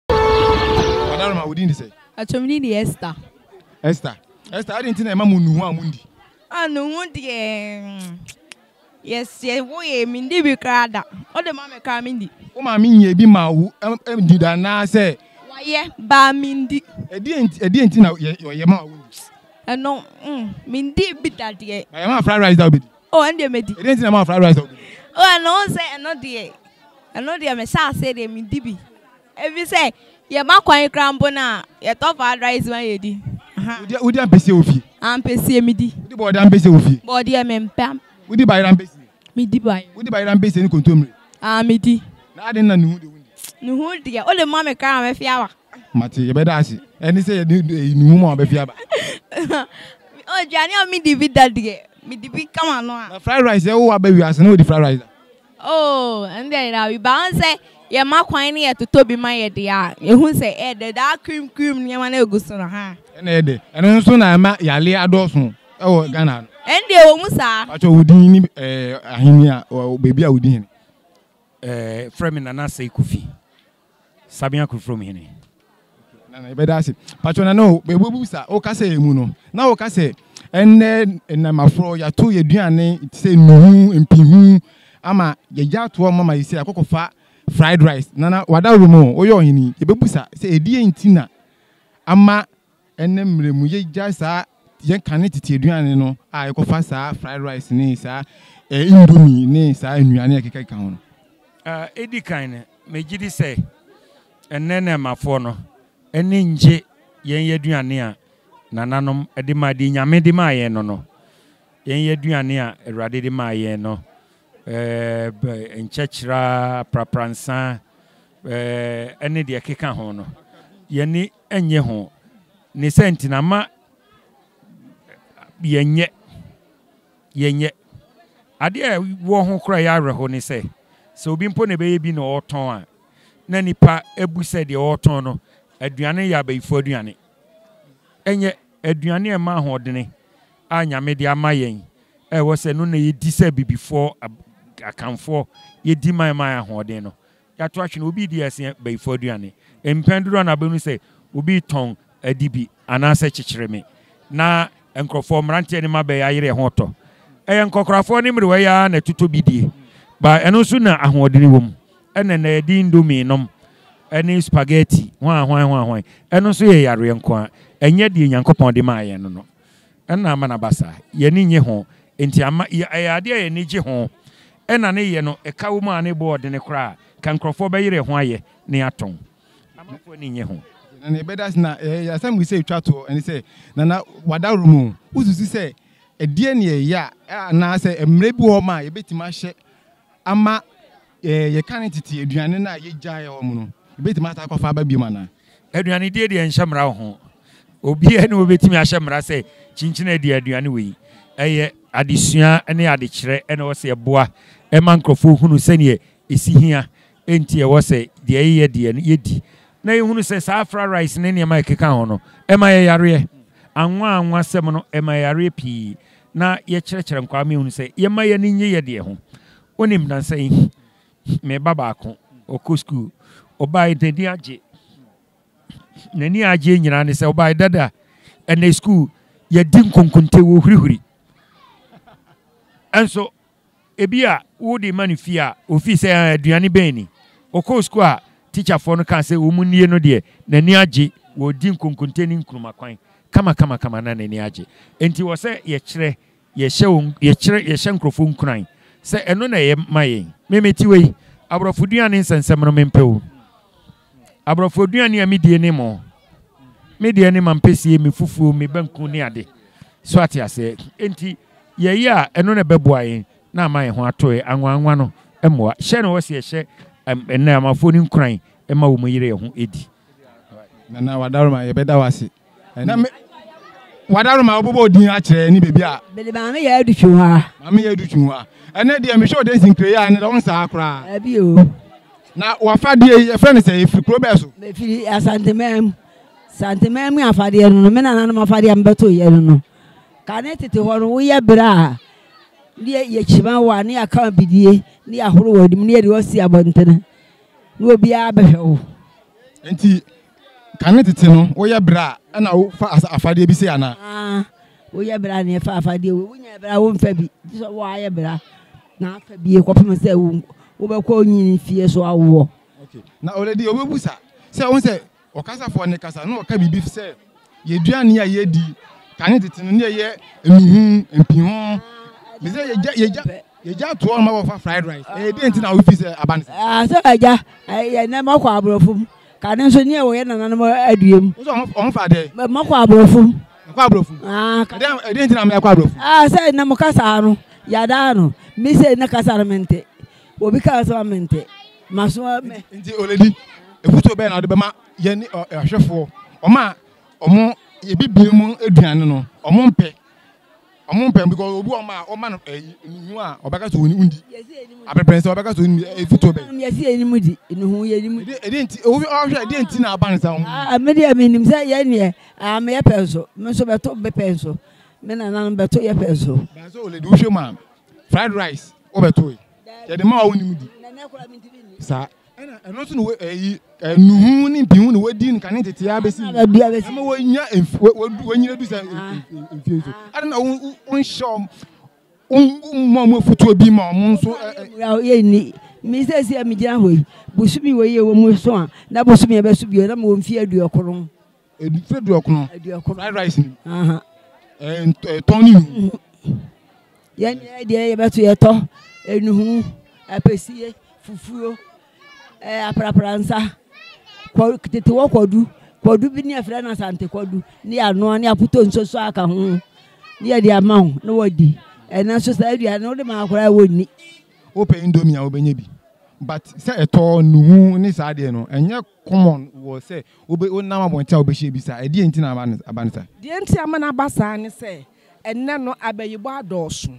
Madam ma wo din de sɛ? Atwam din de Esther. Esther. Esther, adi nti na ɛma mo nnuhu a mo ndi? A nnuhu deɛ yɛsɛ woyɛ mi ndi bi koraa da. O de ma mi koraa mi ndi. Wo maame nyɛ bi ma wo ndi da naa sɛ? Wayɛ baa mi ndi. Ɛdi nti ɛdi nti na yɛ yɛ ma wo ndi? Ɛno mm mi ndi bi da deɛ. Ba yɛ ma fried rice da o bi di? Oh, ɛndeɛ mɛdi. Ɛdeɛ nti na ma fried rice a wobɛdi? Oh, ɛno wo sɛ ɛno deɛ, ɛno deɛ me hyɛ aseɛ deɛ me di bi. Ebi sɛ, yɛ ma kwan kura mpo no a, yɛ tɔ fried rice ma yɛ di. Wodi, wodi ampesie wɔ fie? Ampesie me di. Wodi bɔɔdeɛ ampesie wɔ fie? Bɔɔdeɛ me mpɛ. Wodi bayerɛ ampesie? Me di bayerɛ. Wodi bayerɛ ampesie ne kontomire? Ah, me di. Na aden na nuhu deɛ wo ndi? Nuhu deɛ, wo de ma me koraa a mɛfi awa. mate yɛbɛda ase ɛne sɛ yɛde nnuhu ma wɔbɛfi aba aduane a medi bi da deɛ medi bi kama no a fried rice ɛwo aba wiase na wɔdi fried rice da oh ɛno deɛ yɛda bi ba ɔn sɛ yɛma kwan ne yɛtotɔ bi ma yɛde a ɛhu sɛ ɛdɛ daa cream cream nneɛma no ɛgu so no ha ɛna ɛdɛ ɛno nso na ɛma yale adɔɔso ɛwɔ Ghana no ɛno deɛ wɔ mu saa patwɛ wodin ne ahenni a baabi a wodin hene frɛ me Nana Sekou Fi Sabea Kurfrom hene. Nana, yɛbɛda ase. Patro Nana o, bɛbubu sa, o kasa yɛ mu no, na o kasa yɛ, ɛnnɛ nnam aforɔ, yɛato yɛ duane, te sɛ nnuhu, mpihu, ama yɛgya ato hɔ mama yɛsɛ akɔkɔ fa fried rice. Nana, wada woro mu o, woyɛ ɔhene, yɛbɛbu sa, sɛ ɛdeɛ nti na ama Ɛnnɛ mmerɛ mu yɛgyae saa yɛn kane tete aduane no a yɛkɔfa saa fried rice ne saa eh, indomie ne saa nnuane a ɛkekakeka ho no. Ɛdi kan no, megye di sɛ ɛnnɛ nnɛɛmafoɔ no ani ngye yɛn aduane a nananom de ma deɛ Nyame de maa yɛn no no. Yɛn aduane a Awurade de maa yɛn no, eh, nkyɛkyerɛ, prapransa, eh, ɛne deɛ ɛkeka ho no. Yɛne Ɛnyɛ ho. Ne sɛ nti na ma yɛnyɛ, yɛnyɛ. Adeɛ a ɛwɔ ho koraa yɛ awerɛho ne sɛ, sɛ obi mpo na ɛbɛyɛ bi na ɔretɔn a, na nnipa abu sɛ deɛ ɔretɔn no aduane no yɛ abayifoɔ aduane. Ɛnyɛ. Aduane a ɛma ahoɔdene a Nyame de ama yɛn a ɛwɔ sɛ ɛno na yɛdi sɛ Abibifoɔ, Akanfoɔ, yɛdi ma ɛma yɛn ahoɔden no, Yɛato ahwene, obi redi asia bayifo aduane. Mpɛn dodow no abɛnu sɛ obi retɔn adi bi anaasɛ kyekyereme, na nkurɔfo, mmerante ne mmabea ayere ɛho tɔ. Ɛyɛ nkwakoraafo ne mmerewaa yi ara na ɛtotɔ bi die, but ɛno nso na ahoɔdene wom. Ɛna ɛnnɛ yɛde indomie nom ne spaghetti, hwan hwan hwan hwan. Ɛno nso yɛ yareɛ nko ara, ɛnyɛ deɛ Nyankopɔn de maa yɛn no. na ama no aba saa. Yɛn ani nnye ho, enti amma ɛyɛ ade a yɛn ani gye ho na ne yɛ no ka wom a ne bo ɔdene koraa a, nka nkurɔfoɔ bɛyere ɛho ayɛ na yɛatɔn. Amanfoɔ ani nnye ho. Na nea ɛbɛda ase na ɛyɛ asɛm bi sɛ etwa toɔ, ɛne sɛ, Nana, w'adaworo mu, wosusu sɛ ɛdeɛn na yɛyɛ a, anaasɛ mmerɛ bi wɔ hɔ ma a yɛbɛtumi ahyɛ ama yɛka no tete aduane no a yegyaee wɔn no, yebetumi asan akɔfa aba bio anaa? Aduanedie deɛ nhyɛ mmara wɔ ho. Obiara ne ɔbɛtumi ahyɛ mmara sɛ kyinkyini adi aduane wei. Ɛyɛ adesua ne adekyerɛ na ɛwɔ sɛ ɛboa ɛma nkurɔfoɔ hunu sɛdeɛ ɛsi hia Enti ɛwɔ sɛ deɛ yɛyɛ deɛ no, yɛdi, na yɛhunu sɛ saa fra rice ne nneɛma a ɛkeka ho no, ɛma yɛn yareɛ. Anwa anwa asɛm no, ɛma yɛn yareɛ pii, na yɛkyerɛkyerɛ nkwaa ma yɛhunu sɛ yɛmma yɛn ani nnye yɛn deɛ ho. Wonim, nnansa yi, me ba baako, ɔkɔ sukuu, ɔbaeɛ, n'ani agye. N'ani a agyeɛ nyinaa ne sɛ, ɔbaeɛ, Dada, ɛnnɛ sukuu, yɛadi nkonkonte, wɔhurihuri. Nso, Ebia wode ma no fie a ofii sɛ ah aduane bɛn ni? Ɔkɔɔ sukuu a tikyafoɔ no kaa sɛ wɔn nnie no deɛ n'ani agye wɔ ɔdi nkonkonte ne nkruma kwan kamakamakama na n'ani agye. Enti wɔ sɛ yɛkyerɛ yɛhyɛ wɔn yɛkyerɛ yɛhyɛ nkorɔfoɔ nkuran sɛ ɛno na ɛyɛ ma yɛn. Me mete wei aborɔfo duane nsɛnsɛm no mempɛ o. Aborɔfo aduane a medie ne mo. Me deɛ ne mampesie, me fufuo, me banku ne ade. So ate aseɛ? Enti yɛyɛ a ɛno na ɛbɛboa yɛn na ama yɛn ho ato yɛn. Anwanwa no mmoa. Hyɛ no hɔ sɛ yɛhyɛ nnɛɛmafoɔ no nkuran ma wɔn yere yɛn ho di. Nana Wadaroma, yɛbɛda wo ase. na me wadaro ma wobobɔ din akyerɛ ne baabi a mede maame yɛ adu twi hɔ a maame yɛ adu twi hɔ a ɛnɛ deɛ mehwɛ ɔde nsinkire yɛ a ne dɛ wonsaa koraa ɛbi o na wafadeɛ yi ɛfrɛ no sɛ ɛfiri kuro bɛɛ so mefiri asantemam santemam mu afadeɛ no no me nananom afadeɛ a mebɛto yɛ no no ka ne tete hɔ no woyɛ berɛ a ne yɛkyima wo a ne yɛaka bidie ne yɛahoro wɔ anim ne yɛde wasi abɔntene na obiara bɛhwɛ wo nti Kane tete no, woyɛ bra na wofa afadeɛ bi sei anaa? Ah, woyɛ bra na ɛfa afadeɛ wei. Wonya bra womfa bi. Gye sɛ woayɛ bra na afa bi kɔpem sɛ wobɛkɔ onyini fie so awoɔ. Okay. Na already wobɛbu sa sɛ wo sɛ ɔkasafoɔ ne kasa na ɔka biribi sɛ Yɛdua nneɛma a yɛdi, kane tete no ne ɛyɛ nnuhu, mpiho. Me sɛ yɛgya yɛgya yɛgya toɔ no ma wɔfa fried rice. Ɛyɛ dɛn nti na wofi sɛ aba no sɛ? Ah, sɛ ɛgya ɛyɛ nnɛ mɔkɔ aborɔfo mu. Kane nso ne ɛwɔ yɛ nananom adua mu. Nso wɔn fa dɛ? Mɔkɔ aborɔfo mu. Ɛkɔ aborɔfo mu? Ah, ɛdɛn ɛdɛn nti na mɛ ɛkɔ aborɔfo? Ah, sɛ nnɛ mo kasa no yada no. Me sɛ nnɛ kasa no mente. Obi kasa ma mente. Maso mɛ. Nti oledi efutuo bɛn na ɔde bɛma Yɛn ahwɛfoɔ, wɔn a wɔn abibire mu aduane no, wɔn mpɛ. Wɔn mpɛ because obi wɔn a wɔma no ɛyi nuhu a ɔbɛka so wɔn di. Abɛpɛn sɛ ɔbɛka so wɔn di efi to bɛn. Yɛsi yɛn anim di nuhu yɛn anim di. Ɛdi nti obi ɔhwɛ ɛdi nti na aba ne sa wɔn. Ah me deɛ me nim sɛ yɛn deɛ ah me yɛ pɛn so me nso bɛto me pɛn so me nananom bɛto yɛ pɛn so. Bɛnso oledi wohwɛ mu a fried rice wɔbɛto yi yɛde ma wɔn nim di saa. ɛna ɛno nso na wɔ ɛyi eh, eh, nuhu ne mpihu na wɔdi no kane tete ara bɛsi ɛma wɔnya wɔnyina du sɛ mfie so ɛna na wonhyɛ mmɔ mo afutuo bi ma ɔmo nso yɛnni me sɛ sɛ megyina hɔ yi bosome wɔ yɛ wɔ mu so a na bosome ɛbɛso bio na mewɔ mfie aduɔkron Edufɛ duɔkono. Eduɔkono. Fried rice ni. Aha. Ɛɛ nt ɛtɔn ni nuhu. Yɛn yɛ deɛ yɛ bɛto yɛ tɔ enuhu apɛsie fufuo ɛɛ eh, aprapransa kɔ tete wɔ kɔdu kɔdu bi ne ɛfrɛ no asante kɔdu ne yɛ anoa ne apoto nsoso aka ho ne yɛ de ama ho ne wɔ di ɛna nso saa aduane no wode maa koraa wɔ nni. Wopɛ indomie a wobɛnya bi but sɛ ɛtɔ nuhu ne saa deɛ no ɛnyɛ Common wɔ sɛ wobe wonam abɔnten a wobehyia bi saa. Ɛdeɛn nti na ama no aba no saa? Deɛ nti ama no aba saa ne sɛ, ɛnnɛ no abayibɔ adɔɔso.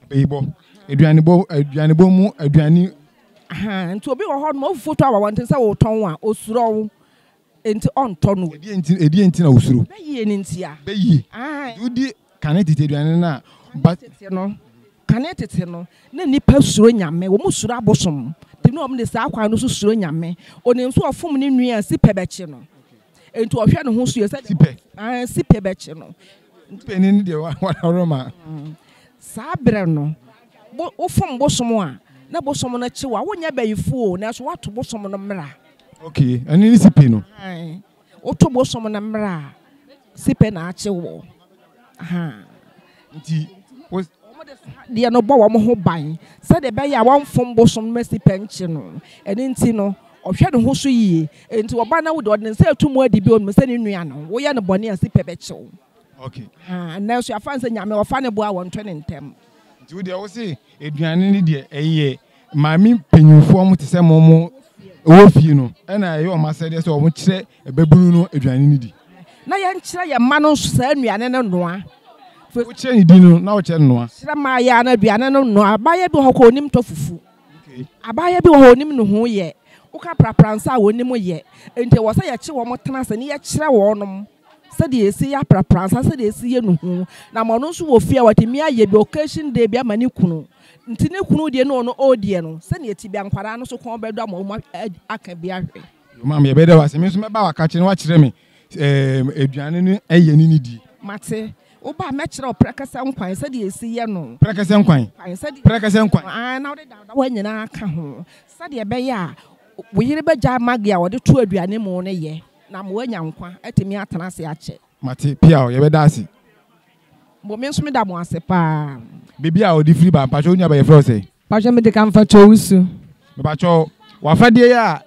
Abayibɔ, aduanebɔ, aduanebɔ mu aduane. Ahaa, nti obi wɔ hɔ nom a wofi foto aba abɔnten sɛ wotɔn a, osuro wo nti ɔntɔ no. Ɛdeɛn nti, ɛdeɛn nti na wosuro? Bɛyie no ntia. Bɛyie. Ahaa. Nti wodi Kane tete aduane no a ba. Tete no, kane tete no, na nnipa suro Nyame. Wɔn suro abosom. Nti na wɔn de saa kwan no so suro Nyame. Onim sɛ ɔfom ne nua a, sipɛ bɛkye no. Nti ɔhwɛ ne ho so yie sɛdeɛ. Sipɛ. Aane, sipɛ bɛkye no. Sipɛ ni ne deɛ wadaworo ma. Saa berɛ no, wo, wo fom bosom a, na bosom no kye wo a, wonyɛ bayifoɔ o, nanso woato bosom no mmara. Okay, ɛno ne sipɛ no. Aane. Woto bosom no mmra a, si pɛ na akye wo. Nti, wo. Deɛ no bɔ wɔn ho ban sɛdeɛ ɛbɛyɛ a wɔmfom bosom no ma si pɛ nkye no. Ɛno nti no, ɔhwɛ ne ho so yie. Enti ɔba na wo deɛ, ɔde ne nsa reto mu adi bio, ɔnim sɛ ne nua no, woyɛ no bɔne a, si pɛ bɛkye wo. Okay. Haa, ɛnnɛ nso yɛafa no sɛ Nyame, ɔfa ne bo a wɔnto ne ntɛm. Nti wo deɛ, wo se aduane no deɛ, ɛyɛ maame mpanyinfoɔ mo te sɛ mo mo ɛwɔ fie no ɛna ɛyɛ wɔn asɛdeɛ sɛ wɔn kyerɛ ɛbɛbunu no aduane no di. na yɛn kyerɛ yɛn mma no nso saa nnuane no noa. wokyerɛ ne di no na wokyerɛ no noa. kyerɛ maayaa no aduane no noa abaayewa bi wɔ hɔ kɔ onim tɔ fufu okay. abaayewa bi wɔ hɔ onim nuhu yɛ woka prapra nsa a wɔnim yɛ nti wɔ sɛ yɛkye wɔn tena ase ne yɛkyerɛ wɔn nom. sɛdeɛ yɛsi yɛ aprapransa sɛdeɛ yɛsi yɛ nuhu na ma ɔno nso wɔ fie a watumi ayɛ bi occasion day bi ama ne kunu nti ne kunu deɛ ne ɔno ɔɔdeɛ no sɛdeɛ ɛti bia nkwadaa no so kɔn bɛdɔ ama ɔmo aka bi ahwɛ Maame yɛ bɛda wase me nso mɛba waka kyerɛ na wakyerɛ me ɛɛm aduane no ɛyɛ ne ne die. Mate. Woba a mɛkyerɛ wo prɛkɛsɛ nkwan sɛdeɛ yɛsi yɛ no. Prɛkɛsɛ nkwan? Nkwan sɛdeɛ Prɛkɛsɛ nkwan? Aane na wode dawdawa nyinaa ka ho sɛdeɛ ɛbɛyɛ a wo yere bɛgyae Maggi a ɔde to aduane mu no yɛ. Na mo anya nkwa atumi atena ase akyɛ. Mate pia o, yɛbɛda ase. Mo me nso meda mo ase paa. Baabi a ɔde firi ba mpakyɛw nua bɛ yɛfrɛ wo sɛn? Mpakyɛw mede ka mfakyɛ owusu. Mepakyɛw w'afadeɛ yi a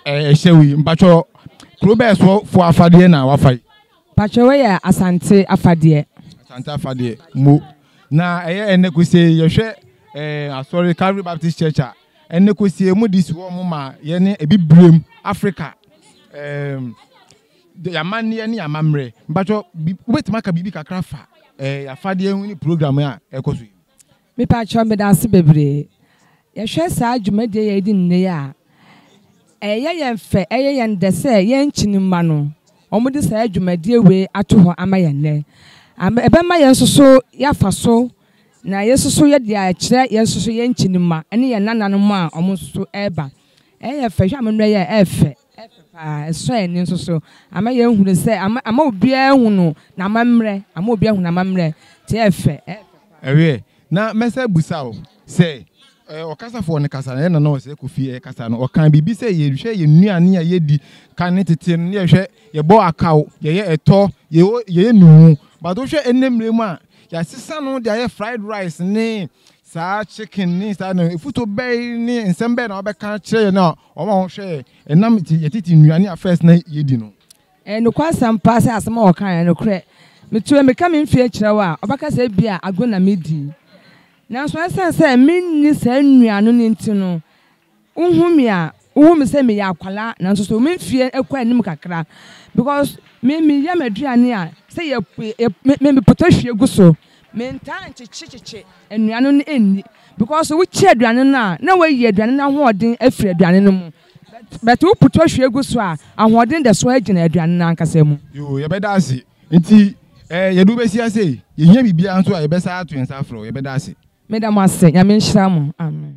ɛhyɛ wo yi mpakyɛw kuro bɛɛ so foɔ afadeɛ na wafa yi? Mpakyɛw wei yɛ Asante afadeɛ. Asante afadeɛ mo na ɛyɛ ɛnɛ kusee yɛhwɛ ɛɛ asɔre Calvary Baptist Church a Ɛnnɛ kosua mu de si hɔ ma yɛne Abibirem Afrika ɛɛm yɛn amanneɛ ne yɛn amammerɛ. Mpatsɔ bi wobɛtumi aka biribi kakra afa ɛɛ yɛn afadeɛ ho ne program a ɛkɔ so yi. Mepatsɔ meda ase bebree. Yɛhwɛ saa dwumadie yi a yɛdi nnɛ yi a, ɛyɛ yɛn fɛ, ɛyɛ yɛn dɛ sɛ yɛn nkyen mma no wɔde saa dwumadie wei ato hɔ ama yɛn nnɛ. Ɛbɛma yɛn nso so yɛafa so. Na yɛn nso so yɛde akyerɛ yɛn nso so yɛn nkyin mma ne yɛn nananom a wɔn nso so reba. Ɛyɛ fɛ, hwɛ amammerɛ yi a ɛyɛ fɛ, ɛyɛ fɛ paa, ɛsɔ yɛn ani nso so. Ama yɛn hunu sɛ, ama, ama obiara hunu n'amammerɛ, ama obiara hunu n'amammerɛ, nti ɛyɛ fɛ, ɛyɛ fɛ paa. Ɛwɛ, na mɛsɛ bisa wo sɛ, ɛɛ, ɔkasafoɔ no kasa no, ɛyɛ Nana Ɔsɛe Kofi ɛrekasa no, ɔkaa biribi sɛ yɛhwɛ yɛn nnuane a yɛdi kane tete no, na yɛhwɛ, yɛbɔ akaw, yɛyɛ ɛtɔ, yɛyɛ, yɛyɛ nnuhu, but wohwɛ ɛnnɛ mmerɛ mu a, Yɛasesa no de ayɛ fried rice ne saa chicken ne saa no. Efuto bɛn ne nsɛm bɛn na wɔbɛka akyerɛ yɛn a wɔn a wɔhwɛ ɛnam yɛ tete nnuane a first na yɛdi no? Ɛyɛ nokwasɛm paa sɛ asɛm a wɔkae yɛ nokorɛ. Metuo mmirika me mfeɛ kyerɛ wo a, wobɛka sɛ ebia agorɔ na medi. Nanso ɛsiane sɛ menni saa nnuane no nti no, Wohu me a, wohu me sɛ meyɛ akwadaa nanso so me mfeɛ kɔ anim kakra because me meyɛ m'aduane a sɛ yɛ me me mepɔtɔ hwie gu so. Mentaa nkyekye kyekye nnuane no nni because wokye aduane no a na woayi aduane no ahoɔden afiri aduane no mu but but wopɔtɔ hwie gu so a ahoɔden da so ara gyina aduane no ankasa mu. Yoo, yɛbɛda ase. Nti ɛɛ yɛde wo bɛsi ha sei. Yɛhia biribiara nso a yɛbɛsan ato nsa afrɛ wo. Yɛbɛda ase. Meda mo ase. Nyame nhyira mo. Amen.